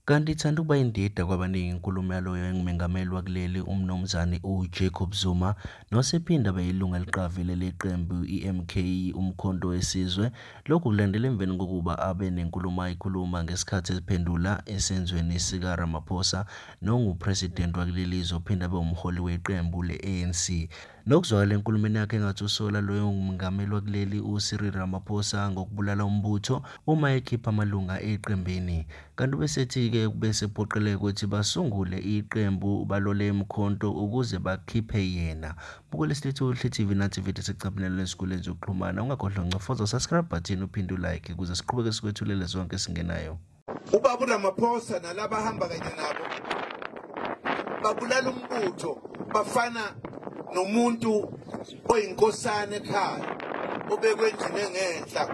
Kanti ithanda ukuba indida kwabaningi inkulumo yaloyo engumengameli wakuleli uMnumzane uJacob Zuma nosephinde abe yilungu eliqavile leqembu i-MK uMkhonto weSizwe. Lokhu kulandela emveni kokuba abe nenkulumo ayikhuluma ngesikhathi eziphendula esenzweni sikaRamaphosa nonguPresident wakuleli zwe ophinde abe umholi weqembu le-ANC. Nokuzwakala enkulumeni yakhe engathi usola loyo ngumengameli wakuleli uCyril Ramaphosa ngokubulala umbutho uma ekhipha amalunga eqembini. Kanti ubesethi-ke ubesephoqeleka ukuthi basungule iqembu balole emkhonto ukuze bakhiphe yena. Bukela isilethu uHle TV nathi vidiyo sekucaphinelwe esikoleni zokuxhumana. Ungakhohlwa ncofoza subscribe button uphinde ulike ukuze siqhubeke sikwethulele zonke esingenayo. Ubaba uRamaphosa nalaba ahamba kanye nabo babulala umbutho bafana nomuntu oyinkosana ekhaya obekwe endlini engenhla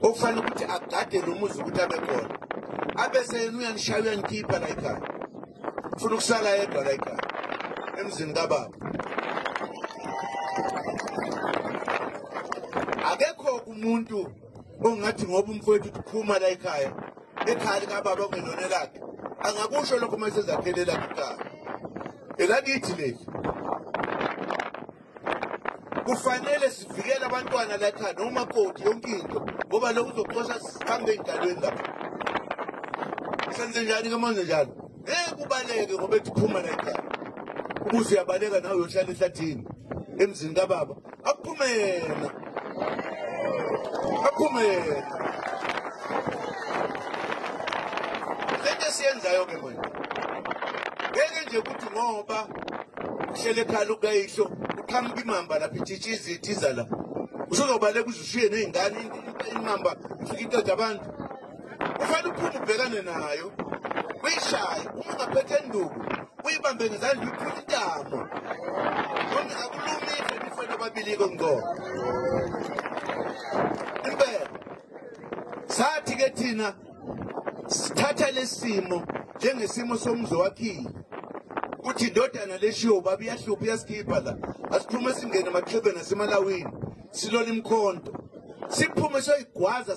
okufanele ukuthi agade lo muzi ukuthi abe khona abese yena uyanishaya uyanikhipha la ekhaya ufuna ukusala yedwa la ekhaya emzini kababa akekho umuntu ongathi ngoba umfowethu uphuma la ekhaya ekhaya likababa kungelona lakhe angakusho lokho uma esezakhele lakhe ikhaya elakithi leli kufanele sivikele abantwana la ekhaya noma koti yonke into ngoba lokhu uzoxosha sihambe ey'dalweni lapho senze njani ke manje njalo ngeke ubaleke ngoba ethi phuma la ekhaya ubuze uyabaleka nawe uyohlala ehlathini emzini kababa aphume yena aphume yena lento esiyenzayo ke manje ngeke nje ukuthi ngoba uhlele ekhala ukayihlo uqhamuka imamba lapha ithitha izithiza la usuzobaleka uze ushiye ney'ngane imamba ifike iqeda abantu kufanele uphume ubhekane nayo uyishaye uma ungaphethe enduku uyibambe ngezandla uyiphula intamo noma akulumise nifana ababili-ke ngqobo impela sathi-ke thina sithatha lesimo njengesimo somzi wakhile kuthi indodana leshiwo baba iyahlupha iyasikhipha la asiphume singene emaxhebeni asemalawini silole imkhonto siphume soyigwaza